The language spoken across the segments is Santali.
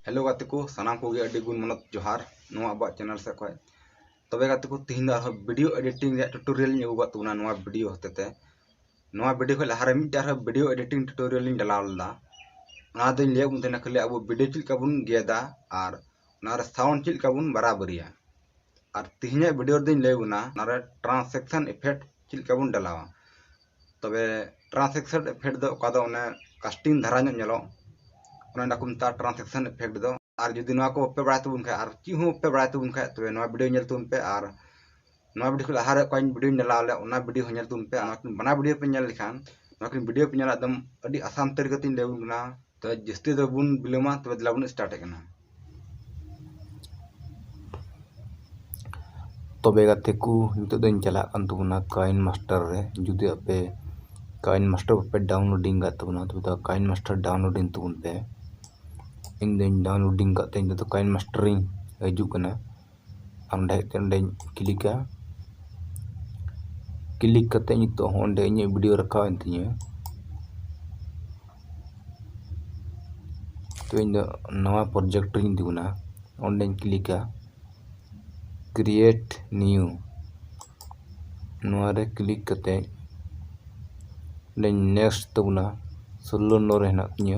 ᱦᱮᱞᱳ ᱜᱟᱛᱮ ᱠᱚ ᱥᱟᱱᱟᱢ ᱠᱚᱜᱮ ᱟᱹᱰᱤ ᱜᱩᱱ ᱢᱟᱱᱚᱛ ᱡᱚᱦᱟᱨ ᱱᱚᱣᱟ ᱟᱵᱚᱣᱟᱜ ᱪᱮᱱᱮᱞ ᱥᱮᱫ ᱠᱷᱚᱱ ᱛᱚᱵᱮ ᱜᱟᱛᱮ ᱠᱚ ᱛᱤᱦᱤᱧ ᱫᱚ ᱟᱨᱦᱚᱸ ᱵᱷᱤᱰᱤᱭᱳ ᱮᱰᱤᱴᱤᱝ ᱨᱮᱭᱟᱜ ᱴᱩᱴᱳᱨᱤᱭᱟᱞ ᱤᱧ ᱟᱹᱜᱩ ᱠᱟᱜ ᱛᱟᱵᱚᱱᱟ ᱱᱚᱣᱟ ᱵᱷᱤᱰᱤᱭᱳ ᱦᱚᱛᱮ ᱛᱮ ᱱᱚᱣᱟ ᱵᱷᱤᱰᱤᱭᱳ ᱠᱷᱚᱱ ᱞᱟᱦᱟᱨᱮ ᱢᱤᱫᱴᱮᱱ ᱟᱨᱦᱚᱸ ᱵᱷᱤᱰᱤᱭᱳ ᱮᱰᱤᱴᱤᱝ ᱴᱩᱴᱳᱨᱤᱭᱟᱞ ᱤᱧ ᱰᱟᱞᱟᱣ ᱞᱮᱫᱟ ᱚᱱᱟ ᱫᱚᱧ ᱞᱟᱹᱭᱟᱫ ᱵᱚᱱ ᱛᱟᱦᱮᱱᱟ ᱠᱷᱟᱹᱞᱤ ᱟᱵᱚ ᱵᱷᱤᱰᱤᱭᱳ ᱪᱮᱫ ᱞᱮᱠᱟ ᱵᱚᱱ ᱜᱮᱫᱟ ᱟᱨ ᱚᱱᱟᱨᱮ ᱥᱟᱣᱩᱱᱰ ᱪᱮᱫ ᱞᱮᱠᱟ ᱵᱚᱱ ᱵᱟᱨᱟᱵᱟᱹᱨᱤᱭᱟ ᱟᱨ ᱛᱤᱦᱤᱧᱟᱜ ᱵᱷᱤᱰᱤᱭᱳ ᱨᱮᱫᱚᱧ ᱞᱟᱹᱭ ᱵᱚᱱᱟ ᱚᱱᱟᱨᱮ ᱴᱨᱟᱱᱥᱮᱠᱥᱚᱱ ᱤᱯᱷᱮᱠᱴ ᱪᱮᱫ ᱞᱮᱠᱟ ᱵᱚᱱ ᱰᱟᱞᱟᱣᱟ ᱛᱚᱵᱮ ᱴᱨᱟᱱᱥᱮᱠᱥᱚᱱ ᱮᱯᱷᱮᱠᱴ ᱫᱚ ᱚᱠᱟ ᱫᱚ ᱚᱱᱮ ᱠᱟᱥᱴᱤᱝ ᱫᱷᱟᱨᱟ ᱧᱚᱜ ᱧᱮᱞᱚᱜ ᱚᱱᱮ ᱚᱱᱟ ᱠᱚ ᱢᱮᱛᱟᱜᱼᱟ ᱴᱨᱟᱱᱥᱮᱠᱥᱚᱱ ᱮᱯᱷᱮᱠᱴ ᱫᱚ ᱟᱨ ᱡᱩᱫᱤ ᱱᱚᱣᱟ ᱠᱚ ᱵᱟᱯᱮ ᱵᱟᱲᱟᱭ ᱛᱟᱵᱚᱱ ᱠᱷᱟᱡ ᱟᱨ ᱪᱮᱫ ᱦᱚᱸ ᱵᱟᱯᱮ ᱵᱟᱲᱟᱭ ᱛᱟᱵᱚᱱ ᱠᱷᱟᱡ ᱛᱚᱵᱮ ᱱᱚᱣᱟ ᱵᱷᱤᱰᱤᱭᱳ ᱧᱮᱞ ᱛᱟᱵᱚᱱ ᱯᱮ ᱟᱨ ᱱᱚᱣᱟ ᱵᱷᱤᱰᱤᱭᱳ ᱠᱷᱚᱱ ᱞᱟᱦᱟᱨᱮ ᱚᱠᱟᱧ ᱵᱷᱤᱰᱤᱭᱳᱧ ᱰᱟᱞᱟᱣ ᱞᱮᱫ ᱚᱱᱟ ᱵᱷᱤᱰᱤᱭᱳ ᱦᱚᱸ ᱧᱮᱞ ᱛᱟᱵᱚᱱ ᱯᱮ ᱟᱨ ᱱᱚᱣᱟ ᱠᱤᱱ ᱵᱟᱱᱟᱨ ᱵᱷᱤᱰᱤᱭᱳ ᱯᱮ ᱧᱮᱞ ᱞᱮᱠᱷᱟᱱ ᱱᱚᱣᱟ ᱠᱤᱱ ᱵᱷᱤᱰᱤᱭᱳ ᱯᱮ ᱧᱮᱞᱟ ᱮᱠᱫᱚᱢ ᱟᱹᱰᱤ ᱟᱥᱟᱱ ᱛᱟᱹᱨᱤᱠᱟᱛᱮᱧ ᱞᱟᱹᱭ ᱟᱵᱚᱱ ᱠᱟᱱᱟ ᱛᱚ ᱡᱟᱹᱥᱛᱤ ᱫᱚ ᱵᱚᱱ ᱵᱤᱞᱚᱢᱟ ᱛᱚᱵᱮ ᱫᱮᱞᱟ ᱵᱚᱱ ᱥᱴᱟᱨᱴ ᱮᱫ ᱠᱟᱱᱟ ᱛᱚᱵᱮ ᱜᱟᱛᱮ ᱠᱚ ᱱᱤᱛᱚᱜ ᱫᱚᱧ ᱪᱟᱞᱟᱜ ᱠᱟᱱ ᱛᱟᱵᱚᱱᱟ ᱠᱟᱭᱤᱱ ᱢᱟᱥᱴᱟᱨ ᱨᱮ ᱡᱩᱫᱤ ᱟᱯᱮ ᱠᱟᱭᱤᱱ ᱢᱟᱥᱴᱟᱨ ᱵᱟᱯᱮ ᱰᱟᱣᱩᱱᱞᱳᱰᱤᱝ ᱠᱟᱜ ᱛᱟᱵᱚᱱᱟ ᱛᱚᱵᱮ ᱫᱚ ᱠᱟᱭᱤᱱ ᱢᱟᱥᱴᱟᱨ ᱰᱟᱣᱩᱱᱞᱳᱰᱤᱝ ᱛᱟᱵᱚᱱ ᱯᱮ ᱤᱧ ᱫᱚᱧ ᱰᱟᱣᱩᱱᱞᱳᱰᱤᱝ ᱠᱟᱜ ᱛᱮ ᱤᱧ ᱫᱚ ᱠᱟᱭᱤᱱ ᱢᱟᱥᱴᱟᱨᱤᱧ ᱦᱤᱡᱩᱜ ᱠᱟᱱᱟ ᱚᱸᱰᱮ ᱚᱸᱰᱮᱧ ᱠᱞᱤᱠᱟ ᱠᱞᱤᱠ ᱠᱟᱛᱮ ᱱᱤᱛᱚᱜ ᱦᱚᱸ ᱚᱸᱰᱮ ᱤᱧᱟᱹᱜ ᱵᱷᱤᱰᱤᱭᱳ ᱨᱟᱠᱟᱵ ᱮᱱ ᱛᱤᱧᱟᱹ ᱛᱚ ᱤᱧ ᱫᱚ ᱱᱟᱣᱟ ᱯᱨᱚᱡᱮᱠᱴ ᱨᱤᱧ ᱫᱩᱱᱟ ᱚᱸᱰᱮᱧ ᱠᱞᱤᱠᱟ ᱠᱨᱤᱭᱮᱴ ᱱᱤᱭᱩ ᱱᱚᱣᱟ ᱨᱮ ᱠᱞᱤᱠ ᱠᱟᱛᱮ ᱚᱸᱰᱮᱧ ᱱᱮᱠᱥᱴ ᱛᱟᱵᱚᱱᱟ ᱥᱳᱞᱞᱳ ᱱᱚᱨᱮ ᱦᱮᱱᱟᱜ ᱛᱤᱧᱟᱹ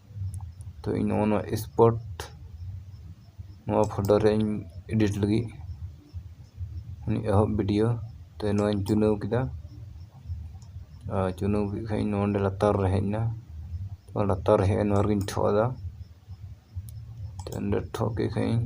ᱛᱚ ᱤᱧ ᱱᱚᱜᱼᱚ ᱱᱚᱣᱟ ᱥᱯᱳᱨᱴ ᱱᱚᱣᱟ ᱯᱷᱳᱴᱳ ᱨᱮ ᱤᱧ ᱮᱰᱤᱴ ᱞᱟᱹᱜᱤᱫ ᱩᱱᱤ ᱮᱦᱚᱵ ᱵᱷᱤᱰᱤᱭᱳ ᱛᱚ ᱱᱚᱣᱟᱧ ᱪᱩᱱᱟᱹᱣ ᱠᱮᱫᱟ ᱟᱨ ᱪᱩᱱᱟᱹᱣ ᱠᱮᱫ ᱠᱷᱟᱱ ᱤᱧ ᱱᱚᱰᱮ ᱞᱟᱛᱟᱨ ᱨᱮ ᱦᱮᱡ ᱮᱱᱟ ᱛᱚ ᱞᱟᱛᱟᱨ ᱨᱮ ᱦᱮᱡ ᱮᱱ ᱱᱚᱣᱟ ᱨᱮᱜᱤᱧ ᱴᱷᱚᱜ ᱟᱫᱟ ᱛᱚ ᱱᱚᱰᱮ ᱴᱷᱚᱜ ᱠᱮᱫ ᱠᱷᱟᱱ ᱤᱧ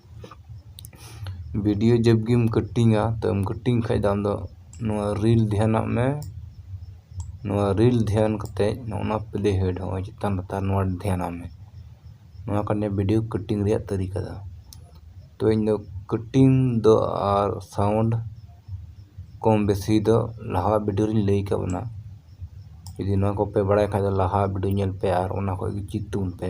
ᱵᱷᱤᱰᱤᱭᱳ ᱡᱮᱵᱽ ᱜᱮᱢ ᱠᱟᱹᱴᱤᱝᱟ ᱛᱚᱢ ᱠᱟᱹᱴᱤᱝ ᱠᱷᱟᱱ ᱫᱚ ᱟᱢᱫᱚ ᱱᱚᱣᱟ ᱨᱤᱞ ᱫᱷᱮᱭᱟᱱᱟᱜ ᱢᱮ ᱱᱚᱣᱟ ᱨᱤᱞ ᱫᱷᱮᱭᱟᱱ ᱠᱟᱛᱮᱫ ᱱᱚᱜᱼᱚ ᱱᱚᱣᱟ ᱯᱞᱮ ᱦᱮᱰ ᱦᱚᱸᱜᱼᱚᱭ ᱪᱮᱛᱟᱱ ᱞᱟᱛᱟᱨ ᱱᱚᱣᱟ ᱫᱷᱮᱭᱟᱱᱟᱜ ᱢᱮ ᱱᱚᱣᱟ ᱠᱟᱱ ᱜᱮᱭᱟ ᱵᱷᱤᱰᱤᱭᱳ ᱠᱟᱹᱴᱤᱝ ᱨᱮᱭᱟᱜ ᱛᱟᱹᱨᱤᱠᱟ ᱫᱚ ᱛᱚ ᱤᱧ ᱫᱚ ᱠᱟᱹᱴᱤᱝ ᱫᱚ ᱟᱨ ᱥᱟᱣᱩᱱᱰ ᱠᱚᱢ ᱵᱮᱥᱤ ᱫᱚ ᱞᱟᱦᱟ ᱵᱷᱤᱰᱤᱭᱳ ᱨᱤᱧ ᱞᱟᱹᱭ ᱟᱠᱟᱫ ᱵᱚᱱᱟ ᱡᱩᱫᱤ ᱱᱚᱣᱟ ᱠᱚᱯᱮ ᱵᱟᱲᱟᱭ ᱠᱷᱟᱱ ᱫᱚ ᱞᱟᱦᱟ ᱵᱷᱤᱰᱤᱭᱳ ᱧᱮᱞ ᱯᱮ ᱟᱨ ᱚᱱᱟ ᱠᱷᱚᱱ ᱜᱮ ᱪᱮᱫ ᱛᱟᱵᱚᱱ ᱯᱮ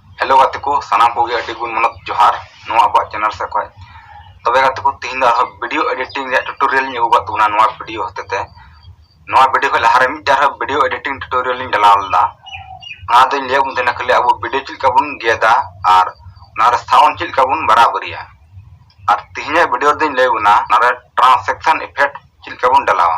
ᱦᱮᱞᱳ ᱜᱟᱛᱮ ᱠᱚ ᱥᱟᱱᱟᱢ ᱠᱚᱜᱮ ᱟᱹᱰᱤ ᱜᱩᱱ ᱢᱟᱱᱚᱛ ᱡᱚᱦᱟᱨ ᱱᱚᱣᱟ ᱟᱵᱚᱣᱟᱜ ᱪᱮᱱᱮᱞ ᱥᱮᱫ ᱠᱷᱚᱱ ᱛᱚᱵᱮ ᱜᱟᱛᱮ ᱠᱚ ᱛᱤᱦᱤᱧ ᱫᱚ ᱟᱨᱦᱚᱸ ᱵᱷᱤᱰᱤᱭᱳ ᱮᱰᱤᱴᱤᱝ ᱨᱮᱭᱟᱜ ᱴᱩᱴᱳᱨᱤᱭᱟᱞ ᱤᱧ ᱟᱹᱜᱩ ᱠᱟᱜ ᱛᱟᱵᱚᱱᱟ ᱱᱚᱣᱟ ᱵᱷᱤᱰᱤᱭᱳ ᱦᱚᱛᱮ ᱛᱮ ᱱᱚᱣᱟ ᱵᱷᱤᱰᱤᱭᱳ ᱠᱷᱚᱱ ᱞᱟᱦᱟᱨᱮ ᱢᱤᱫᱴᱟᱝ ᱟᱨᱦᱚᱸ ᱵᱷᱤᱰᱤᱭᱳ ᱮᱰᱤᱴᱤᱝ ᱴᱩᱴᱳᱨᱤᱭᱟᱞ ᱤᱧ ᱰᱟᱞᱟᱣ ᱞᱮᱫᱟ ᱚᱱᱟ ᱫᱚᱧ ᱞᱟᱹᱭᱟᱫ ᱵᱚᱱ ᱛᱟᱦᱮᱱᱟ ᱠᱷᱟᱹᱞᱤ ᱟᱵᱚ ᱵᱷᱤᱰᱤᱭᱳ ᱪᱮᱫ ᱞᱮᱠᱟ ᱵᱚᱱ ᱜᱮᱫᱟ ᱟᱨ ᱚᱱᱟᱨᱮ ᱥᱟᱣᱩᱱᱰ ᱪᱮᱫ ᱞᱮᱠᱟ ᱵᱚᱱ ᱵᱟᱨᱟᱵᱟᱹᱨᱤᱭᱟ ᱟᱨ ᱛᱤᱦᱤᱧᱟᱜ ᱵᱷᱤᱰᱤᱭᱳ ᱨᱮᱫᱚᱧ ᱞᱟᱹᱭ ᱵᱚᱱᱟ ᱚᱱᱟᱨᱮ ᱴᱨᱟᱱᱥᱮᱠᱥᱚᱱ ᱤᱯᱷᱮᱠᱴ ᱪᱮᱫ ᱞᱮᱠᱟ ᱵᱚᱱ ᱰᱟᱞᱟᱣᱟ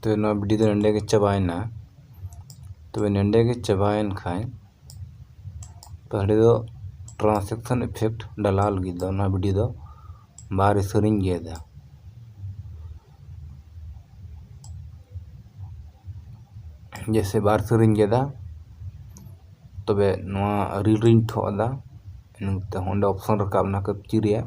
ᱛᱚ ᱱᱚᱣᱟ ᱵᱷᱤᱰᱤᱭᱳ ᱫᱚ ᱱᱚᱸᱰᱮ ᱜᱮ ᱪᱟᱵᱟᱭᱮᱱᱟ ᱛᱚᱵᱮ ᱱᱚᱸᱰᱮ ᱜᱮ ᱪᱟᱵᱟᱭᱮᱱ ᱠᱷᱟᱱ ᱛᱚ ᱦᱟᱸᱰᱮ ᱫᱚ ᱴᱨᱟᱱᱥᱮᱠᱥᱚᱱ ᱤᱯᱷᱮᱠᱴ ᱰᱟᱞᱟᱣ ᱞᱟᱹᱜᱤᱫ ᱫᱚ ᱱᱚᱣᱟ ᱵᱷᱤᱰᱤᱭᱳ ᱫᱚ ᱵᱟᱨ ᱤᱥᱟᱹᱨᱤᱧ ᱜᱮᱫᱟ ᱡᱮᱥᱮ ᱵᱟᱨ ᱤᱥᱟᱹᱨᱤᱧ ᱜᱮᱫᱟ ᱛᱚᱵᱮ ᱱᱚᱣᱟ ᱨᱤᱞ ᱨᱤᱧ ᱴᱷᱚᱜ ᱟᱫᱟ ᱤᱱᱟᱹ ᱠᱟᱛᱮ ᱚᱸᱰᱮ ᱚᱯᱥᱚᱱ ᱨᱟᱠᱟᱵ ᱮᱱᱟ ᱠᱟᱹᱯᱪᱤ ᱨᱮᱭᱟᱜ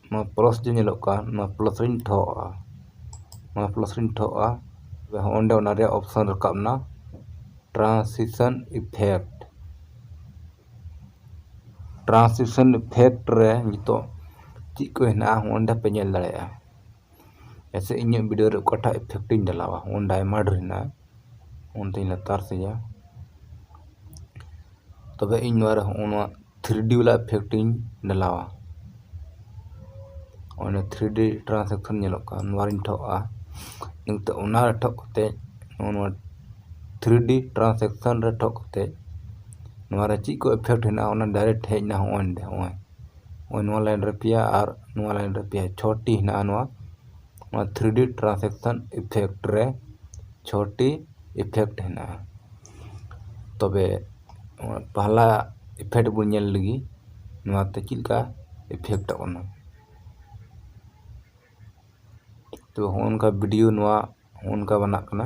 ᱱᱚᱣᱟ ᱯᱞᱟᱥ ᱡᱮ ᱧᱮᱞᱚᱜ ᱠᱟᱱ ᱱᱚᱣᱟ ᱯᱞᱟᱥ ᱨᱤᱧ ᱴᱷᱚᱜ ᱟᱜᱼᱟ ᱱᱚᱣᱟ ᱯᱞᱟᱥ ᱨᱤᱧ ᱴᱷᱚᱜ ᱟᱜᱼᱟ ᱛᱚᱵᱮ ᱦᱚᱸ ᱚᱸᱰᱮ ᱚᱱᱟ ᱨᱮᱭᱟᱜ ᱚᱯᱥᱮᱱ ᱨᱟᱠᱟᱵ ᱮᱱᱟ ᱴᱨᱟᱱᱥᱤᱥᱮᱱ ᱤᱯᱷᱮᱠᱴ ᱴᱨᱟᱱᱥᱤᱥᱮᱱ ᱤᱯᱷᱮᱠᱴ ᱨᱮ ᱱᱤᱛᱚᱜ ᱪᱮᱫ ᱠᱚ ᱦᱮᱱᱟᱜᱼᱟ ᱚᱸᱰᱮ ᱯᱮ ᱧᱮᱞ ᱫᱟᱲᱮᱭᱟᱜᱼᱟ ᱡᱮᱭᱥᱮ ᱤᱧᱟᱹᱜ ᱵᱷᱤᱰᱭᱳ ᱨᱮ ᱚᱠᱟᱴᱟᱜ ᱤᱯᱷᱮᱠᱴ ᱤᱧ ᱰᱟᱞᱟᱣᱟ ᱩᱱ ᱰᱟᱭᱢᱚᱱᱰ ᱨᱮᱱᱟᱜ ᱩᱱ ᱫᱩᱧ ᱞᱟᱛᱟᱨ ᱥᱮᱫᱟ ᱛᱚᱵᱮ ᱤᱧ ᱱᱚᱣᱟ ᱨᱮ ᱦᱚᱸᱜᱼᱚ ᱱᱚᱣᱟ ᱛᱷᱨᱤ ᱰᱤ ᱵᱟᱞᱟ ᱤᱯᱷᱮᱠᱴ ᱤᱧ ᱰᱟᱞᱟᱣᱟ ᱚᱱᱮ ᱛᱷᱨᱤ ᱰᱤ ᱴᱨᱟᱱᱥᱮᱠᱥᱚᱱ ᱧᱮᱞᱚᱜ ᱠᱟᱱ ᱱᱚᱣᱟ ᱨᱤᱧ ᱴᱷᱚᱜᱼᱟ ᱱᱤᱛᱚᱜ ᱚᱱᱟ ᱨᱮ ᱴᱷᱚᱜ ᱠᱟᱛᱮ ᱱᱚᱜᱼᱚ ᱱᱚᱣᱟ ᱛᱷᱨᱤ ᱰᱤ ᱴᱨᱟᱱᱥᱮᱠᱥᱚᱱ ᱨᱮ ᱴᱷᱚᱜ ᱠᱟᱛᱮ ᱱᱚᱣᱟ ᱨᱮ ᱪᱮᱫ ᱠᱚ ᱤᱯᱷᱮᱠᱴ ᱦᱮᱱᱟᱜᱼᱟ ᱚᱱᱟ ᱰᱟᱭᱨᱮᱠᱴ ᱦᱮᱡ ᱮᱱᱟ ᱦᱚᱸᱜᱼᱚᱭ ᱱᱚᱰᱮ ᱦᱚᱸᱜᱼᱚᱭ ᱱᱚᱜᱼᱚᱭ ᱱᱚᱣᱟ ᱞᱟᱭᱤᱱ ᱨᱮ ᱯᱮᱭᱟ ᱟᱨ ᱱᱚᱣᱟ ᱞᱟᱭᱤᱱ ᱨᱮ ᱯᱮᱭᱟ ᱪᱷᱚᱴᱤ ᱦᱮᱱᱟᱜᱼᱟ ᱱᱚᱣᱟ ᱱᱚᱣᱟ ᱛᱷᱨᱤ ᱰᱤ ᱴᱨᱟᱱᱥᱮᱠᱥᱮᱱ ᱤᱯᱷᱮᱠᱴ ᱨᱮ ᱪᱷᱚᱴᱤ ᱤᱯᱷᱮᱠᱴ ᱦᱮᱱᱟᱜᱼᱟ ᱛᱚᱵᱮ ᱯᱟᱦᱞᱟ ᱤᱯᱷᱮᱠᱴ ᱵᱚᱱ ᱧᱮᱞ ᱞᱮᱜᱮ ᱱᱚᱣᱟᱛᱮ ᱪᱮᱫ ᱞᱮᱠᱟ ᱤᱯᱷᱮᱠᱴᱚᱜ ᱠᱟᱱᱟ ᱛᱚ ᱦᱚᱸᱜᱼᱚ ᱱᱚᱝᱠᱟ ᱵᱷᱤᱰᱤᱭᱳ ᱱᱚᱣᱟ ᱦᱚᱸᱜᱼᱚ ᱱᱚᱝᱠᱟ ᱵᱮᱱᱟᱜ ᱠᱟᱱᱟ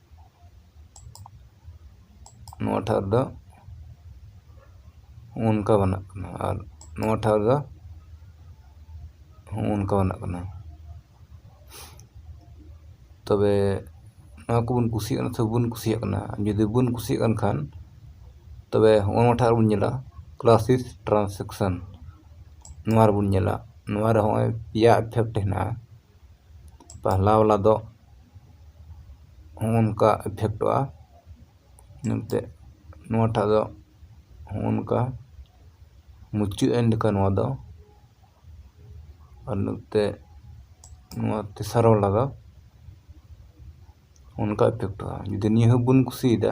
ᱱᱚᱣᱟ ᱴᱷᱟᱶ ᱨᱮᱫᱚ ᱚᱱᱠᱟ ᱵᱮᱱᱟᱜ ᱠᱟᱱᱟ ᱟᱨ ᱱᱚᱣᱟ ᱴᱷᱟᱶ ᱨᱮᱫᱚ ᱚᱱᱠᱟ ᱵᱮᱱᱟᱜ ᱠᱟᱱᱟ ᱛᱚᱵᱮ ᱱᱚᱣᱟ ᱠᱚᱵᱚᱱ ᱠᱩᱥᱤᱭᱟᱜ ᱠᱟᱱᱟ ᱥᱮ ᱵᱟᱵᱚᱱ ᱠᱩᱥᱤᱭᱟᱜ ᱠᱟᱱᱟ ᱡᱩᱫᱤ ᱵᱟᱵᱚᱱ ᱠᱩᱥᱤᱭᱟᱜ ᱠᱟᱱ ᱠᱷᱟᱱ ᱛᱚᱵᱮ ᱦᱚᱸᱜᱼᱚ ᱱᱚᱣᱟ ᱴᱷᱟᱶ ᱨᱮᱵᱚᱱ ᱧᱮᱞᱟ ᱠᱞᱟᱥᱤᱥ ᱴᱨᱟᱱᱥᱮᱠᱥᱮᱱ ᱱᱚᱣᱟ ᱨᱮᱵᱚᱱ ᱧᱮᱞᱟ ᱱᱚᱣᱟ ᱨᱮ ᱦᱚᱸᱜᱼᱚᱭ ᱯᱮᱭᱟ ᱤᱯᱷᱮᱠᱴ ᱦᱮᱱᱟᱜᱼᱟ ᱯᱟᱦᱞᱟ ᱵᱟᱞᱟ ᱫᱚ ᱦᱚᱸᱜᱼᱚᱝᱠᱟ ᱤᱯᱷᱮᱠᱴᱚᱜᱼᱟ ᱮᱱᱛᱮ ᱱᱚᱣᱟᱴᱟᱜ ᱫᱚ ᱦᱚᱸᱜᱼᱚᱝᱠᱟ ᱢᱩᱪᱟᱹᱫ ᱮᱱ ᱞᱮᱠᱟ ᱱᱚᱣᱟ ᱫᱚ ᱟᱨ ᱱᱚᱛᱮ ᱱᱚᱣᱟ ᱛᱮᱥᱟᱨ ᱵᱟᱞᱟ ᱫᱚ ᱚᱱᱠᱟ ᱤᱯᱷᱮᱠᱴᱚᱜᱼᱟ ᱡᱩᱫᱤ ᱱᱤᱭᱟᱹ ᱦᱚᱸᱵᱚᱱ ᱠᱩᱥᱤᱭᱟᱫᱟ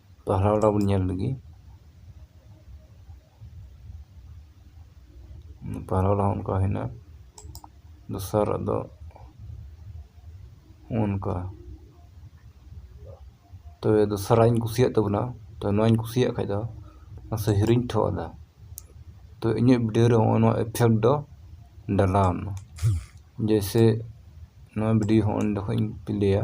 ᱯᱟᱦᱨᱟ ᱚᱰᱟᱣ ᱵᱚᱱ ᱧᱮᱞ ᱞᱮᱜᱮ ᱯᱟᱦᱨᱟ ᱚᱰᱟᱣ ᱦᱚᱸ ᱚᱱᱠᱟ ᱦᱩᱭᱱᱟ ᱫᱚᱥᱟᱨᱟᱜ ᱫᱚ ᱚᱱᱠᱟ ᱛᱚᱵᱮ ᱫᱚᱥᱟᱨᱟᱜ ᱤᱧ ᱠᱩᱥᱤᱭᱟᱜ ᱛᱟᱵᱚᱱᱟ ᱛᱚ ᱱᱚᱣᱟᱧ ᱠᱩᱥᱤᱭᱟᱜ ᱠᱷᱟᱡ ᱫᱚ ᱢᱟᱥᱮ ᱦᱤᱨᱤᱧ ᱴᱷᱚ ᱟᱫᱟ ᱛᱚ ᱤᱧᱟᱹᱜ ᱵᱷᱤᱰᱤᱭᱳ ᱨᱮ ᱦᱚᱸᱜᱼᱚ ᱱᱚᱣᱟ ᱤᱯᱷᱮᱠᱴ ᱫᱚ ᱰᱟᱞᱟᱣᱱᱟ ᱡᱮᱭᱥᱮ ᱱᱚᱣᱟ ᱵᱷᱤᱰᱤᱭᱳ ᱦᱚᱸ ᱚᱸᱰᱮ ᱠᱷᱚᱡ ᱤᱧ ᱯᱞᱮᱭᱟ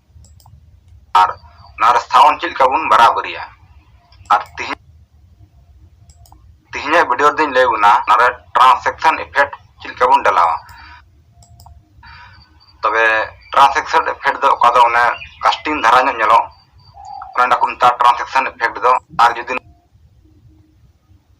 ᱟᱨ ᱱᱚᱣᱟ ᱨᱟᱥᱛᱷᱟᱣᱚᱱ ᱪᱮᱫ ᱞᱮᱠᱟ ᱵᱚᱱ ᱵᱟᱨᱟᱵᱟᱹᱨᱤᱭᱟ ᱟᱨ ᱛᱤᱦᱤᱧ ᱛᱤᱦᱤᱧᱟᱜ ᱵᱷᱤᱰᱤᱭᱳ ᱨᱮᱫᱚᱧ ᱞᱟᱹᱭ ᱵᱚᱱᱟ ᱱᱚᱰᱮ ᱴᱨᱟᱱᱥᱮᱠᱥᱚᱱ ᱤᱯᱷᱮᱠᱴ ᱪᱮᱫ ᱞᱮᱠᱟ ᱵᱚᱱ ᱰᱟᱞᱟᱣᱟ ᱛᱚᱵᱮ ᱴᱨᱟᱱᱥᱮᱠᱥᱚᱱ ᱤᱯᱷᱮᱠᱴ ᱫᱚ ᱚᱠᱟ ᱫᱚ ᱚᱱᱮ ᱠᱟᱥᱴᱤᱝ ᱫᱷᱟᱨᱟ ᱧᱚᱜ ᱧᱮᱞᱚᱜ ᱚᱱᱟ ᱠᱚ ᱢᱮᱛᱟᱜᱼᱟ ᱴᱨᱟᱱᱥᱮᱠᱥᱚᱱ ᱤᱯᱷᱮᱠᱴ ᱫᱚ ᱟᱨ ᱡᱩᱫᱤ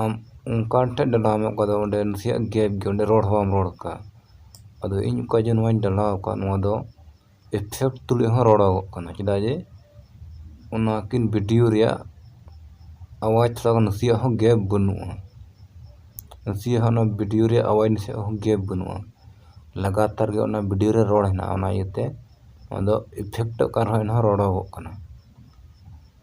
ᱟᱢ ᱚᱱᱠᱟᱱ ᱴᱷᱮᱱ ᱰᱟᱞᱟᱣ ᱢᱮ ᱚᱠᱟ ᱫᱚ ᱚᱸᱰᱮ ᱱᱟᱥᱮᱭᱟᱜ ᱜᱮᱯ ᱜᱮᱭᱟ ᱚᱸᱰᱮ ᱨᱚᱲ ᱦᱚᱸ ᱵᱟᱢ ᱨᱚᱲ ᱟᱠᱟᱫ ᱟᱫᱚ ᱤᱧ ᱚᱠᱟ ᱡᱮ ᱱᱚᱣᱟᱧ ᱰᱟᱞᱟᱣ ᱟᱠᱟᱫ ᱱᱚᱣᱟ ᱫᱚ ᱮᱯᱷᱮᱠᱴ ᱛᱩᱞᱩᱡ ᱦᱚᱸ ᱨᱚᱲᱚᱜᱚᱜ ᱠᱟᱱᱟ ᱪᱮᱫᱟᱜ ᱡᱮ ᱚᱱᱟ ᱠᱤᱱ ᱵᱷᱤᱰᱤᱭᱳ ᱨᱮᱭᱟᱜ ᱟᱣᱟᱡᱽ ᱛᱷᱚᱲᱟ ᱜᱟᱱ ᱱᱟᱥᱮᱭᱟᱜ ᱦᱚᱸ ᱜᱮᱯ ᱵᱟᱹᱱᱩᱜᱼᱟ ᱱᱟᱥᱮᱭᱟᱜ ᱦᱚᱸ ᱚᱱᱟ ᱵᱷᱤᱰᱤᱭᱳ ᱨᱮᱭᱟᱜ ᱟᱣᱟᱡᱽ ᱱᱟᱥᱮᱭᱟᱜ ᱦᱚᱸ ᱜᱮᱯ ᱵᱟᱹᱱᱩᱜᱼᱟ ᱞᱟᱜᱟᱛᱟᱨ ᱜᱮ ᱚᱱᱟ ᱵᱷᱤᱰᱤᱭᱳ ᱨᱮ ᱨᱚᱲ ᱦᱮᱱᱟᱜᱼᱟ ᱚᱱᱟ ᱤᱭᱟᱹᱛᱮ ᱚᱱᱟ ᱫᱚ ᱮᱯᱷᱮᱠᱴᱚᱜ ᱠᱟᱱ ᱨᱮᱦᱚᱸ ᱮᱱᱦᱚᱸ ᱨᱚᱲᱚᱜᱚᱜ ᱠᱟᱱᱟ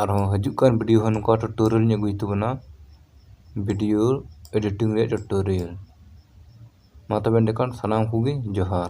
ᱟᱨᱦᱚᱸ ᱦᱤᱡᱩᱜ ᱠᱟᱱ ᱵᱷᱤᱰᱤᱭᱳ ᱦᱚᱸ ᱱᱚᱝᱠᱟ ᱴᱩᱴᱳᱨᱤᱭᱟᱞ ᱤᱧ ᱟᱹᱜᱩᱭ ᱛᱟᱵᱚᱱᱟ ᱵᱷᱤᱰᱤᱭᱳ ᱮᱰᱤᱴᱤᱝ ᱨᱮᱭᱟᱜ ᱴᱩᱴᱳᱨᱤᱭᱟᱞ ᱢᱟ ᱛᱚᱵᱮ ᱮᱸᱰᱮᱠᱷᱟᱱ ᱥᱟᱱᱟᱢ ᱠᱚᱜᱮ ᱡᱚᱦᱟᱨ